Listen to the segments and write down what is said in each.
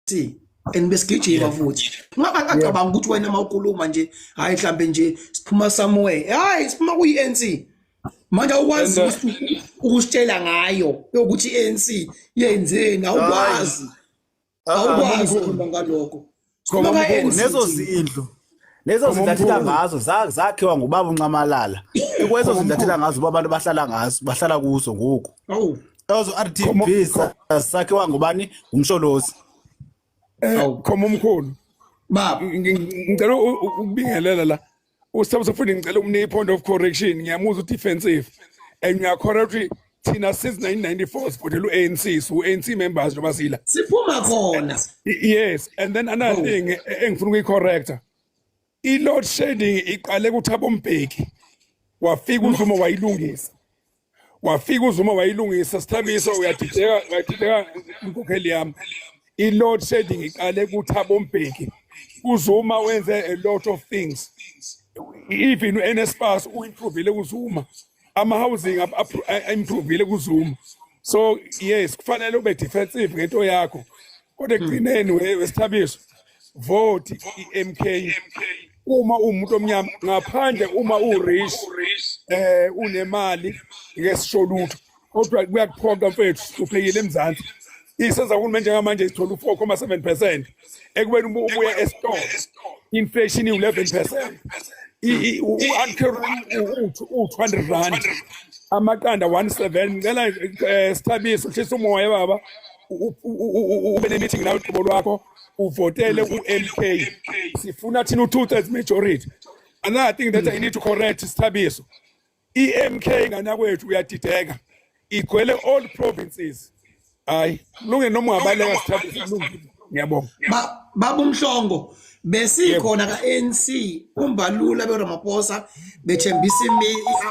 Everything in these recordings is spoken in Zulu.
si and besigijima futhi ngaba ngacabanga ukuthi wena uma ukhuluma nje hayi mhlambe nje siphuma somewhere hayi siphuma kuyi-ANC manje awukwazi uh, ukusitshela ngayo yokuthi i-ANC yenzeni awukwazi awukwazi ukhuluma ngalokho nezo zindlu lezo zintathela ngazo zakhiwa ngubaba unxamalala ikwezo zintathela ngazo uba abantu bahlala ngazo bahlala kuzo ngoku ezo r t b sakhiwa ngubani ngumsholozi eh, khoma umkhulu ngicela ukubingelela la usabusafuni ngicela umnike i-point of correction ngiyamuzwa ukuthi defensive and ngiyakhora ukuthi thina since 1994 sivotela u-anc su-anc members njengoba sila siphuma khona yes and then another oh. thing e, e, engifuna ukuyi-correcta i-load shedding iqale kuthabo mbheki wafika uzuma wayilungisa wafika uzuma wayilungisa sithabiso uyadideka uyadideka inkokheli yami i-load shedding iqale kuthabo mbheki uzuma wenze a lot of things even u-nspas uyimprovile uzuma ama housing improvile kuzuma so yes kufanele ube defensive ngento yakho kodwa ekugcineni wesithabiso vote iMK uma umuntu omnyama ngaphandle uma urich eh unemali ngesisho lutho kodwa kuyakuphoqa mfethu uhluphekile emzansi isenza uhulumeni njengamanje sithola u-four comma seven percent ekubeni uma ubuya esitolo inflation iwu-eleven percent u-two hundred rand amaqanda one seven ngicela um sithabise ushisa umoya baba ube ne-meeting nawe qobo lwakho uvotele u-m k sifuna thina u-two thirds majority another thing that i need to correct sithabiso EMK nganakwethu uyadideka igwele all provinces hayi lunge noma ungabaleka sithathe silungile ngiyabonga baba umhlongo besikhona ka-ANC umbalula beRamaphosa bethembisa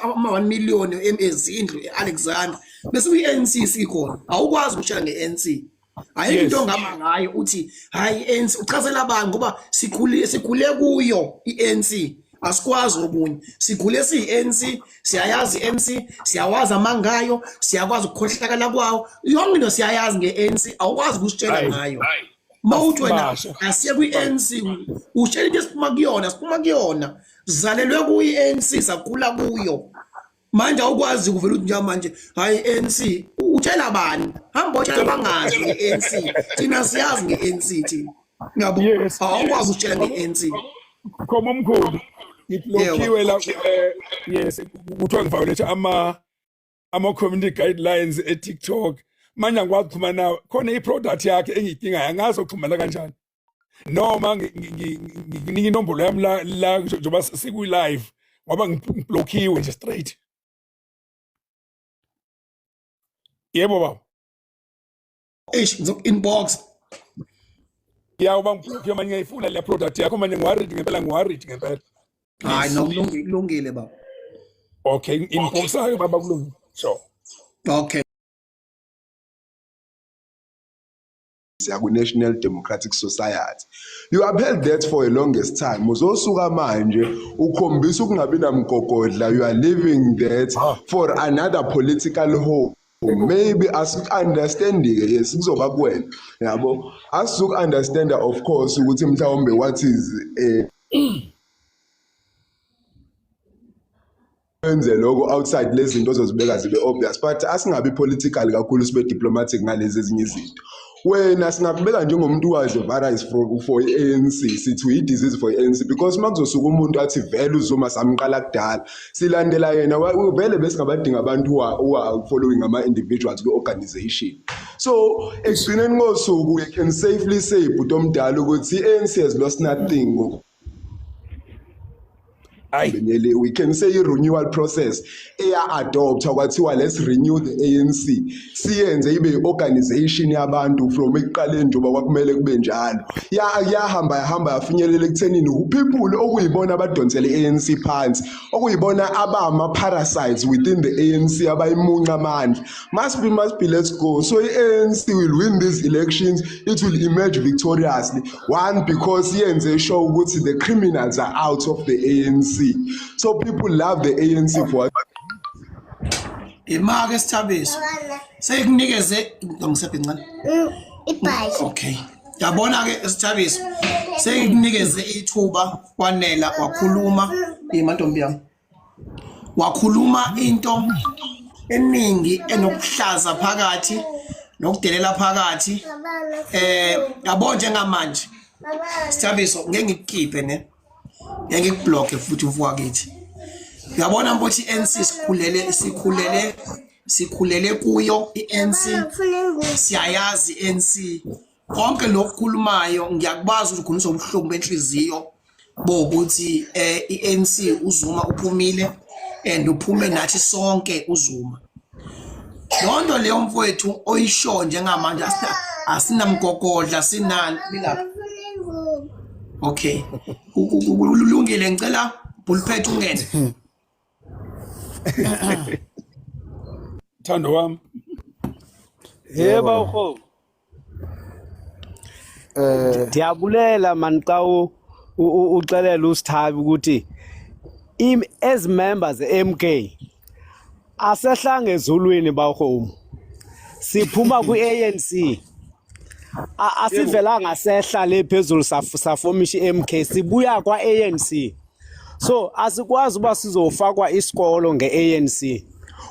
ama-1 million ezindlu e-Alexander bese uyi-ANC sikhona awukwazi ukushaya nge-ANC ayikho into ongama ngayo uthi hayi ANC uchazela abantu ngoba sikhule sikhule kuyo iANC asikwazi okunye sigule siyi-ANC siyayazi i-ANC siyawazi amangayo siyakwazi ukukhohlakala kwawo yonke into siyayazi nge-ANC awukwazi ukusitshela ngayo uma uthi wena asiye kwi-ANC utshela into esiphuma kuyona siphuma kuyona zalelwe kuyi-ANC sakhula kuyo manje awukwazi ukuvela ukuthi njengamanje hayi ANC utshela bani hamba otshela bangazi nge-ANC thina siyazi nge-ANC thina ngiyabo awukwazi ukutshela nge-ANC khoma omkhulu ngiblokiwe la eh, yes kuthiwa ngiviolate ama ama-community guidelines e-tiktok manje angikwazi ukuxhumana nawe khona i-product yakhe engiyidingayo angazi okuxhumana kanjani noma nginika inombolo yami la la njengoba sikwi live ngoba ngiblockiwe nje straight yebo baba eish ngizok inbox ya uba ngiblockiwe manje ngiyifuna le product yakho manje ngiworried ngempela ngiworried ngempela hayi nokulungile kulungile baba okay inbox ayo baba kulungile sure okay ya ku National Democratic Society you upheld that for a longest time uzosuka manje ukhombisa ukungabi namgogodla you are leaving that ah. for another political home maybe asiku-understandi-ke yes kuzoba kuwena yabo asizuku-understanda of course ukuthi mhlawumbe what is um wenze lokho outside lezi zinto ozozibeka zibe obvious but asingabi political kakhulu sibe diplomatic ngalezi ezinye izinto wena singakubeka njengomuntu wazi virus for for ANC sithi uyi disease for ANC because makuzosuka umuntu athi vele uzuma samqala kudala silandela yena vele besingabadinga abantu wa following ama individuals ku organization so ekugcineni kosuku we can safely say bhuti omdala ukuthi ANC has lost nothing Beneli, we can say i-renewal process eya-adoptha kwathiwa let's renew the anc siyenze ibe i-organization yabantu from ekuqaleni njengoba kwakumele kube njalo yahamba yahamba yafinyelela ekuthenini uphipule okuyibona abadonsele i-anc phansi okuyibona abama-parasites within the anc abayimunca amandla Must be, must be, let's go. So ANC will win these elections. It will emerge victoriously. One, because yenze show ukuthi the criminals are out of the ANC. So people love the ANC for imake sithabiso sekunikeze ngisebhe ncane mm, ibhayi okay yabona ke sithabiso sekunikeze ithuba kwanela wakhuluma imantombi yami wakhuluma into eningi enokuhlaza phakathi nokudelela phakathi eh yabo njengamanje sithabiso ngeke ngikukhiphe ne ngeke ngikubloke futhi uvuka kithi uyabona ukuthi NC sikhulele sikhulele sikhulele kuyo iNC siyayazi NC konke lokhu khulumayo ngiyakwazi ukugunisa ubuhlungu benhliziyo bokuthi eh iNC uZuma uphumile and uphume nathi sonke uZuma lonto leyo mfowethu oyisho njengamanje asinamgogodla sinani bilapha okay kulungile ngicela bulphethe ungene thando wami yeba uho eh ndiyabulela man xa uxelela usithabi ukuthi as members MK asehlange ezulwini bawhome siphuma kwi-ANC asivelanga sehla le phezulu safomisha i-MK sibuya kwa-ANC so asikwazi uba sizofakwa isikolo nge-anc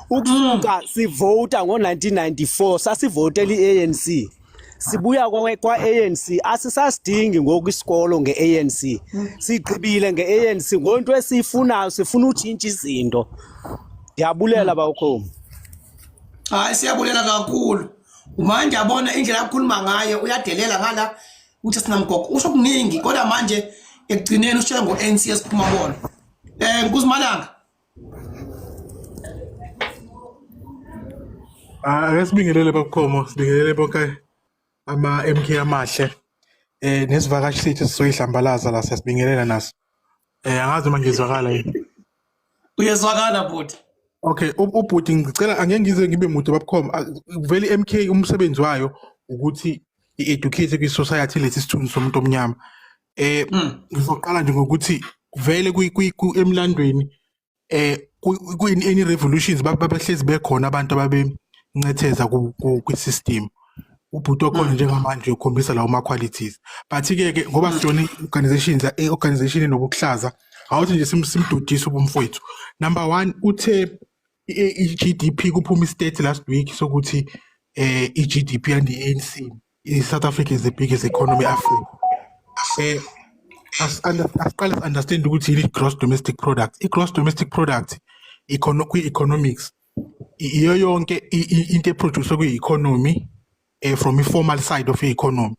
ukusuka mm. sivota ngo-1994 sasivotela i-anc sibuya kwa-anc asisasidingi ngoku isikolo nge-anc mm. sigqibile nge-anc ngonto esiyifunayo sifuna utshintsha izinto ndiyabulela mm. bawukhomi hayi siyabulela kakhulu uma ndiyabona indlela akukhuluma ngayo uyadelela ngala ukuthi sinamgogo usho kuningi kodwa manje ekugcineni ushela ngo-ANC esiphuma bona um kuzimalanga Ah, ake sibingelele babukhomo, sibingelele bonke ama-MK amahle. Eh nesivakashi sethu sizoyihlambalaza la siyasibingelela naso. Eh angazi uma ngizwakala yini. Uyezwakala bhuti. Okay, u- ubhuti ngicela angeke ngize ngibe mude babkhom. Vele iMK umsebenzi wayo ukuthi i-educate kwi-society lesi sithunzi somuntu omnyama. Eh Mm. ngizoqala nje ngokuthi vele kwi- kwi- ku- emlandweni eh kuyini any revolutions babehlezi bekhona abantu ababencetheza kwi system ubhuti okhona mm. njengamanje ukhombisa lawo ma qualities but ke ke ngoba mm. sijona organizations eh, organization enobuhlaza awuthi nje simdudise ubumfowethu number 1 uthe i-GDP kuphuma istate last week sokuthi eh i-GDP and i-ANC i-south africa is the biggest economy africa um asiqale si-understand ukuthi yini i-gross domestic product i-gross domestic product kwi-economics iyo yonke into eproduce kwi-economy um from i-formal side of i-economy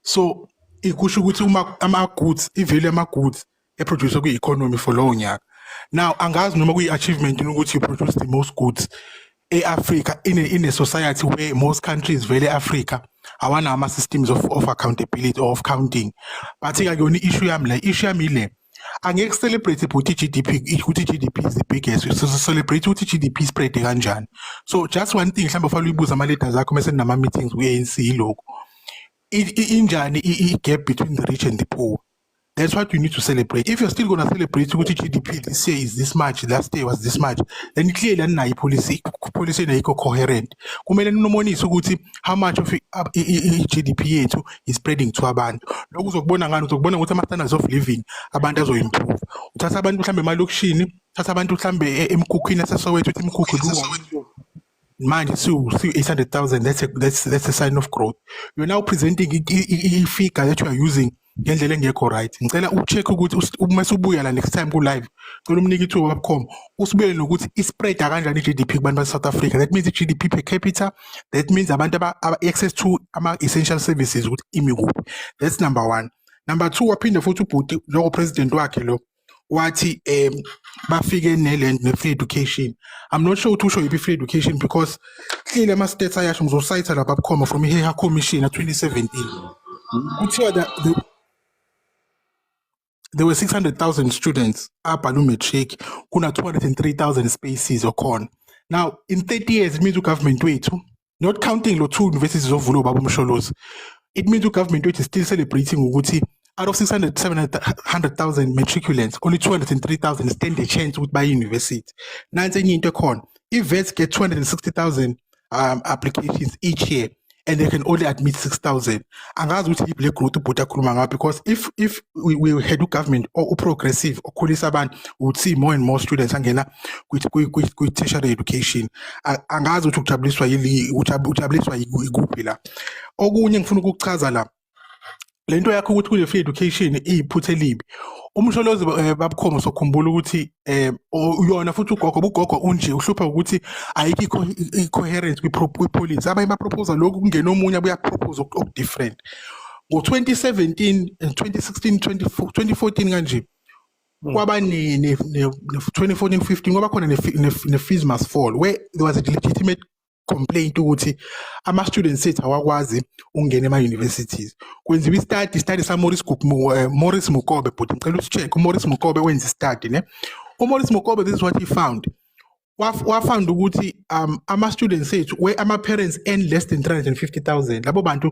so ikusho ukuthi uma ama-goods i-value yama-goods eproduce kwi-economy for lowo nyaka now angazi noma kuyi-achievement ukuthi you produce the most goods e-africa in a, in a society where most countries vele e-africa awanawo ama-systems of, of accountability or of counting but-ke akuyona i-issue yami le issue yami ile angeke celebrate ukuthi GDP ukuthi GDP is the biggest so celebrate ukuthi GDP spread kanjani so just one thing mhlawumbe ufanele uyibuze ama leaders akho mase nama meetings ku ANC lokho injani i gap between the rich and the poor That's what you need to celebrate. If you're still going to celebrate ukuthi GDP this year is this much, last year was this much, then clearly aninayo ipolicy policy engekho coherent. Kumele ninomonise ukuthi how much of i-GDP yethu is spreading to abantu. Lokhu uzokubona ngani uzokubona ukuthi ama-standards of living abantu azoyimprove. Uthatha abantu mhlambe emalokishini, uthatha abantu mhlambe e-, emkhukhwini esesowethu ukuthi imkhukhu manje siwu-800,000 that's, a, that's, that's a sign of growth yona upresenting i-figure that you are using ngendlela engekho right ngicela ucheck ukuthi uma subuya la next time ku-live cela umnike ithuba babukhoma usibuyele nokuthi ispreada kanjani i-g d p kubantu base-south africa that means i-g d p per capita that means abantu aba-access to ama-essential services ukuthi imi kuphi that's number one number two waphinde futhi ubhuti njengopresident wakhe lo wathi um bafike neland ne-free education i'm not sure ukuthi usho yiphi i-free education because hlile ama-states ayasho ngizosayitha lapha bukhoma from iheha commission ka-2017 kuthiwa the, the, there were 600000 students abhale umatric kuna-203,000 spaces okhona now in 30 years it means ugovernment wethu not counting lo two universities zovulwa baba umsholozi it means u government wethu still celebrating ukuthi out of 600 700,000 matriculants only 203,000 stand a chance ukuthi baye university nansi enye into ekhona i-vets get 260,000 um, applications each year and they can only admit 6000 angazi ukuthi iblack growth ubhuti akhuluma ngayo because if if we, we had ugovernment uprogressive okhulisa abantu we would see more and more students angena kwi-tertiary education angazi ukuthi ujabuliswa yili ujabuliswa yikuphi la okunye ngifuna ukuchaza la le nto yakho ukuthi kule free education iyiphutha elibi umsholozi eh, babukhomo sokhumbula ukuthi um uyona futhi ugogo bugogo unje uhlupha ukuthi ayikho i-coherence kwi-policy abanye baproposa lokhu kungena omunye abuyaproposa oku-different ngo-2017 2016 2014 kanje Mm. kwaba ne-2014-15 kwaba khona ne-fees must fall where there was a legitimate complaint ukuthi ama-students ethu awakwazi ukungena ema-universities kwenziwa istadi istadi samoris eh, morris mukobe bhuti ngicela usi-check umoris mukobe wenza istadi ne umoris mukobe this is what he found wafound ukuthi um ama-students ethu where ama-parents earn less than 350 000 labo bantu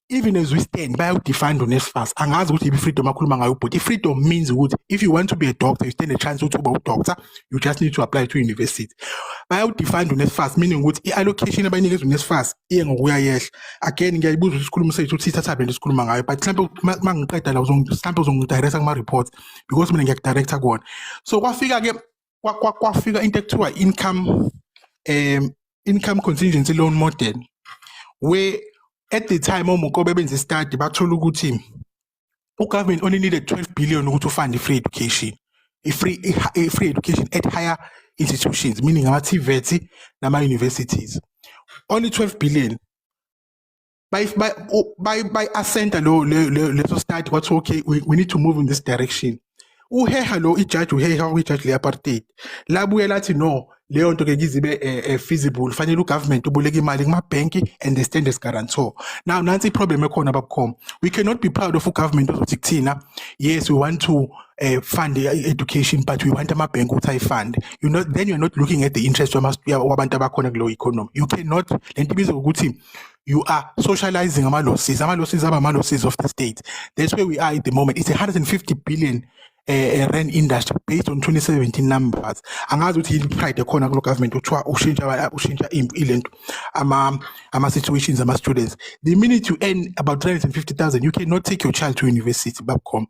even as we stand bayawudefine uNSFAS angazi ukuthi i-freedom akhuluma ngayo ubhuti i-freedom means ukuthi if you want to be a doctor you stand a chance ukuthi uba udoctor you just need to apply to university bayawudefine uNSFAS meaning ukuthi i-allocation abayinikezwa uNSFAS iye ngokuya yehla again ngiyayibuza ukuthi isikhulumo sethu ukuthi sithatha bento sikhuluma ngayo but mhlawumbe uma ngiqeda la mhlawumbe uzongidirecta kuma-reports because mina ngiyakudirecta kuwona so kwafika-ke kwa- kwa- kwafika into ekuthiwa income um income contingency loan model where at the time omukobe benza i-study bathola ukuthi ugovernment only needed 12 billion ukuthi ufund i-free education i-free i- i-free education at higher institutions meaning ama-tvet nama-universities only 12 billion by by by by ascenta lo leso study kwathiwa okay we, we need to move in this direction uheha lo ijaji uheha kwijaji le-apartheid labuye lathi no leyo nto ke kizibe uh, eh, eh, feasible fanele ugovernment uboleka imali kumabhenki and they stand as guarantor now nansi iproblem ekhona babukhoma we cannot be proud of ugovernment ozothi kuthina yes we want to uh, fund education but we want amabhenki ukuthi ayifund you know then you're not looking at the interest wabantu abakhona kulowo economy you cannot le nto ibizwa ukuthi you are socializing ama losses ama losses aba ama losses of the state that's where we are at the moment it's a 150 billion uh, eh, eh, rand industry based on 2017 numbers angazi ukuthi yini pride ekhona kulo government kuthiwa ushintsha ushintsha ilento ama ama situations ama students the minute you earn about 350000 you cannot take your child to university babcom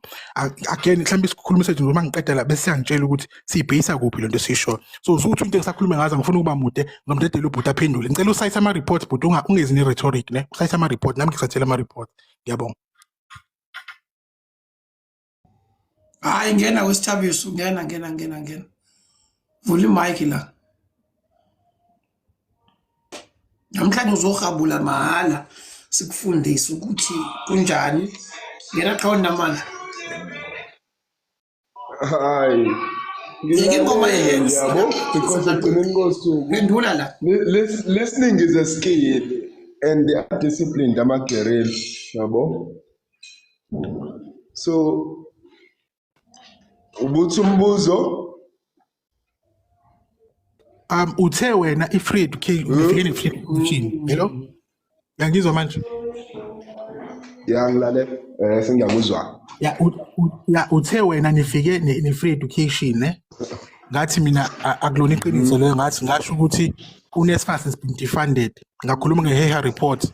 again mhlawumbe isikhuluma sethu noma ngiqeda la bese siyangitshela ukuthi siyibheyisa kuphi lento esiyishoyo so usuthi into engisakhulume ngazo ngifuna ukuba mude ngomdedela ubhuti aphendule ngicela usayise ama reports bhuti ungezi ne rhetoric ne usayise ama report nami ngisathela ama report ngiyabonga hayi ngena wesithabiso ngena ngena ngena ngena vula imike la namhlanje uzohabula mahhala sikufundise ukuthi kunjani ngena qhawoni namandla hayi Ngeke ingoma yenzi yabo because ekugcineni kosuku phendula la listening is a skill and they are disciplined amagerel yabo so ubuthi umbuzo um uthe wena i-free education ufike ne-free education hello yangizwa manje ya ngilale um sengiyakuzwa ya u- u- ya uthe wena nifike ne- ne-free education ne ngathi mina a- akulona iqiniso leyo ngathi ngasho ukuthi unesfas has been defunded ngakhuluma nge-heha report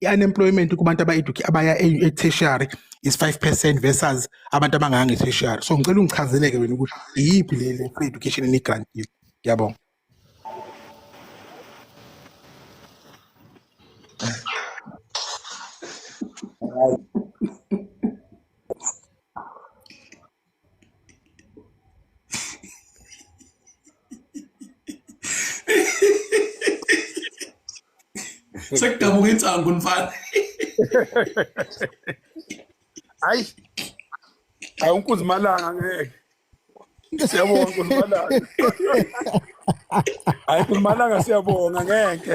i-unemployment kubantu aba-educate abaya e-tertiary is 5 percent versus abantu abanganga nge-tertiary so ngicela ungichazele-ke wena ukuthi iyiphi le le free education eniyigrantile ngiyabonga sekudabuka insangu mfana hayi awunkuzimalanga ngeke siyabonga kuzimalanga hayi kuzimalanga siyabonga ngeke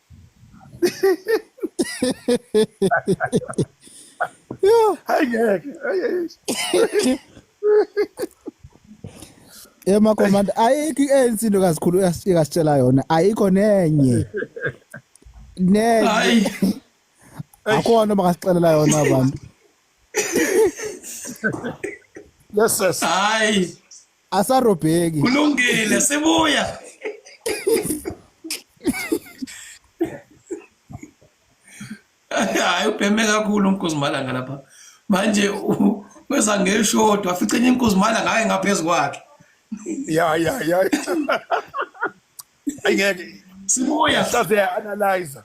hayi ngeke Ema commander ayikho iANC into kazikhulu uyasitshela yona ayikho nenye nenye akhona makasixelela yona abantu yes yes hayi asarobheki kulungile sibuya hayi ubheme kakhulu umkuzimalanga lapha manje weza ngeshodo afice enye inkuzimalanga hayi ngaphezu kwakhe ya ya ya ayingeke sibuya sase analyzer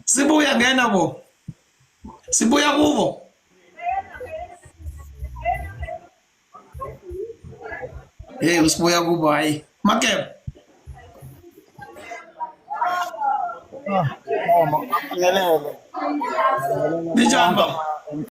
sibuya ngena bo sibuya kubo hey usibuya kubo hayi makebo ah, oh, Ninjani baba?